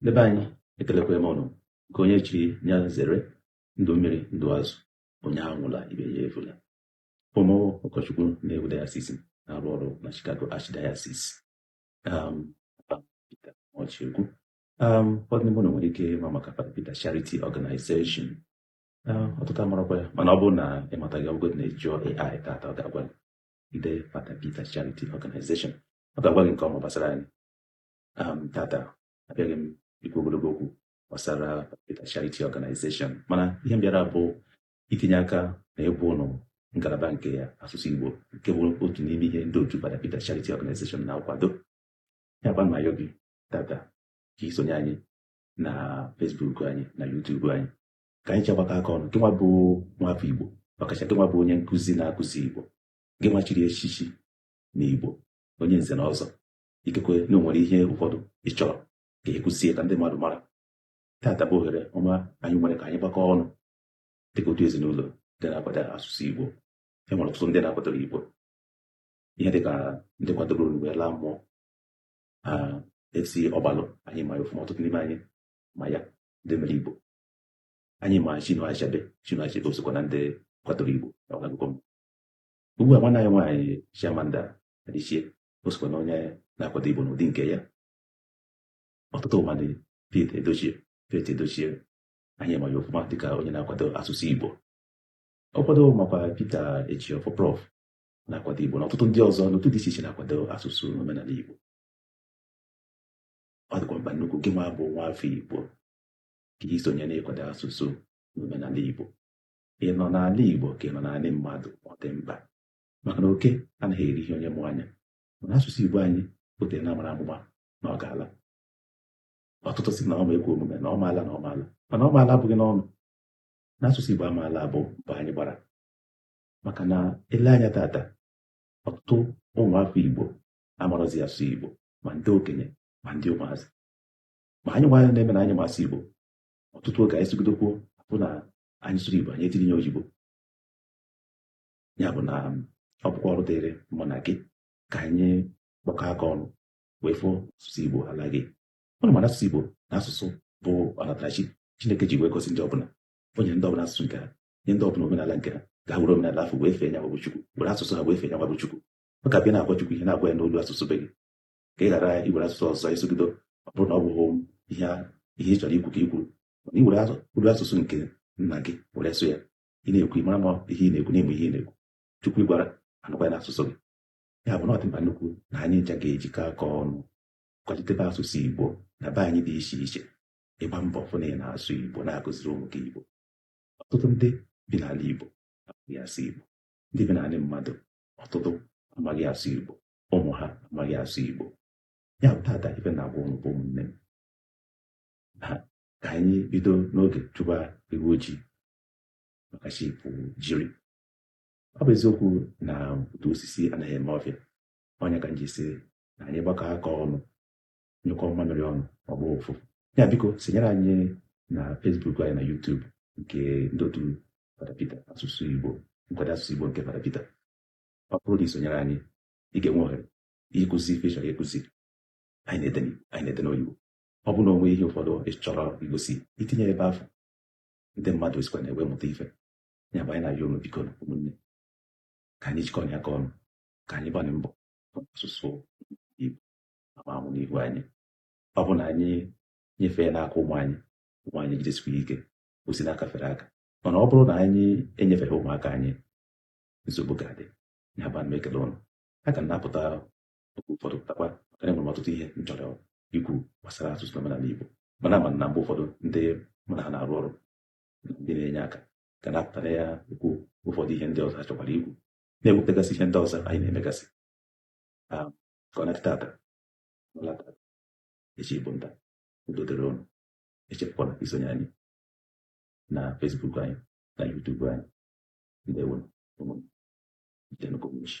Ndị be anyị ekelekwa m ụnụ nke onye chiri ya zere ndụ mmiri ndụ azụ onye anwụla ibe ya efula abụ m ụkọchukwu Nnewi Diocese na-arụ ọrụ na Chicago Archdiocese um, ọchịegwu um, ụfọdụ n'ime ụnụ nwere ike ịma maka Fada Peter Charity Organization um, ọtụtụ amarakwa ya mana ọ bụrụ na ị mataghị Google ndị na-eji AI tata ọ ga-agwa gị i dee Fada Peter Charity Organization ọ ga-agwa gị nke ọma gbasara anyị um tata abịaghị m ikwu ogologo okwu gbasara Peter Charity Organization mana ihe m bịara bụ itinye aka na iwu ụlọ ngalaba nke ya asụsụ Igbo nke bụ otu n'ime ihe ndị otu Fada Peter Charity Organization na-akwado ya bụ ma gị tata ka i sonye anyị na Facebook anyị na YouTube anyị ka anyị chegbakọ aka ọnụ gịnwa bụ nwafọ Igbo ọkacha gịnwa bụ onye nkụzi na-akụzi Igbo gịnwa chiri echichi na Igbo onye nze na ọzọ ikekwe na e nwere ihe ụfọdụ ị chọrọ ka a kụzie ka ndị mmadụ mara tata bụ ohere ọma anyị nwere ka anyị gbakọọ ọnụ dịka otu ezinụlọ ndị na-akwado asụsụ Igbo e nwere ọtụtụ ndị na-akwadoro Igbo ihe dịka ndị kwadoronụ wee laa mmụọ F.C. Ọgbalụ anyị ma ya ọfụma ọtụtụ n'ime anyị ma ya ndị mere Igbo anyị ma Chinua Achebe Chinua Achebe o sokwa na ndị kwadoro Igbo na ọgụgụ m ugbu a nwanne anyị nwaanyị Chimamanda Adichie o sokwa na onye na-akwado Igbo n'ụdị nke ya ọtụtụ mmadụ Pete Edochie Pete Edochie anyị ma ya ofụma dịka onye na-akwado asụsụ Igbo ọ kwado makwa Peter Ejiofọ Prof na-akwado Igbo na ọtụtụ ndị ọzọ n'otu dị iche iche na-akwado asụsụ na omenala Igbo ọ dịkwa mkpa nnukwu gị nwa bụ nwa afọ Igbo ka i sonye n'ịkwado asụsụ na omenala Igbo ị nọ n'ala Igbo ka ị nọ n'ala mmadụ ọ dị mkpa maka na oke anaghị eri ihe onye mụ anya mana asụsụ Igbo anyị o tere a na-amara amụma na ọ ga-ala ọtụtụ sị na ọ ma ekwe omume na ọ ma ala na ọ ma ala mana ọ ma ala abụghị n'ọnụ na asụsụ Igbo ama ala bụ mbọ anyị gbara maka na e lee anya tata ọtụtụ ụmụafọ Igbo amarọzi asụ Igbo ma ndị okenye ma ndị ụmụazị ma anyịnwa ndị na-eme na anyị ma asụ Igbo ọtụtụ oge anyị sụgido okwu bụ na anyị sụrụ Igbo anyị etinye oyibo ya bụ na ọ bụkwa ọrụ dịrị mụ na gị ka anyị kpọkọ aka ọnụ wee fụ na asụsụ Igbo alaghị ụnụ ma na asụsụ Igbo na asụsụ bụ ọnatarachi Chineke ji wee gosi ndị ọbụla o nyere ndị ọbụla asụsụ nke ha nye ndị ọbụla omenala nke ha ka ha were omenala afụ wee fee nyanwa bụ Chukwu were asụsụ ha wee fee nyanwa bụ Chukwu ọ ga-abụ ị na-agwa Chukwu ihe na-agwa ya n'olu asụsụ be gị ka ị ghara iwere asụsụ ọzọ ị sụgido ọ bụrụ na ọ bụghị ihe ị chọrọ ikwu ka i kwuru mana i were olu asụsụ nke nna gị were sụọ ya ị na-ekwu ịmara ma ihe ị na-ekwu na-eme ihe ị na-ekwu chukwu ị gwara anụkwa ya n'asụsụ gị ya bụ na ọ dị mkpa nnukwu na anyị ncha ga-ejikọ aka ọnụ kwalitebe asụsụ igbo na be anyị dị iche iche ịgba mbọ fụ na ị na-asụ igbo na-akụziri ụmụ gị igbo ọtụtụ ndị bi n'ala igbo amaghị asụ igbo ndị bi n'ala mmadụ ọtụtụ amaghị asụ igbo ụmụ ha amaghị asụ igbo ya bụ tata ife m na-agwa ụnụ bụ ụmụnne m ka anyị bido n'oge chụba ewu ojii maka chi ejiri ọ bụ eziokwu na otu osisi anaghị eme ọfịa ọ nya ka m ji sị na anyị gbakọ aka ọnụ nyụkọ mmamịrị ọnụ ọ gbọ ụfụfụ ya biko sonyere anyị na Facebook anyị na YouTube nke ndị otu Fada Peter asụsụ Igbo nkwado asụsụ Igbo nke Fada Peter ọ bụrụ na i sonyere anyị ị ga-enwe ohere ịkụzi ife ị chọrọ ịkụzi anyị na-ede n'Igbo anyị na-ede n'oyibo ọ bụ na o nwee ihe ụfọdụ ị chọrọ igosi i tinye ebe afụ ndị mmadụ esikwa na ya wee mụta ife ya bụ anyị na-ayọ unu biko ụmụnne ka anyị jikọ aka ọnụ ka anyị gbanye mbọ asụsụ Igbo ama anwụ n'ihu anyị ọ bụ na anyị nyefee n'aka ụmụ anyị ụmụ anyị jidesikwa ike o si n'aka fere aka mana ọ bụrụ na anyị enyefeghị ụmụaka anyị nsogbu ga-adị ya bụ ana m ekele ụnụ aga m na-apụta oge ụfọdụ pụtakwa maka na enwere m ọtụtụ ihe m chọrọ ikwu gbasara asụsụ na omenala Igbo mana ama m na mgbe ụfọdụ ndị mụ na ha na-arụ ọrụ na ndị na-enye aka ga na-apụta na-ekwu ụfọdụ ihe ndị ọzọ ha chọkwara ikwu na-ekwupụtagasị ihe ndị ọzọ anyị na-emegasị Ah, ka ọ na-adị taata ọ laa taa echi bụ nta udo dịrị ụnụ echefukwana isonye anyị na Facebook anyị na YouTube anyị ndewo ụmụnne ka ụmụ chi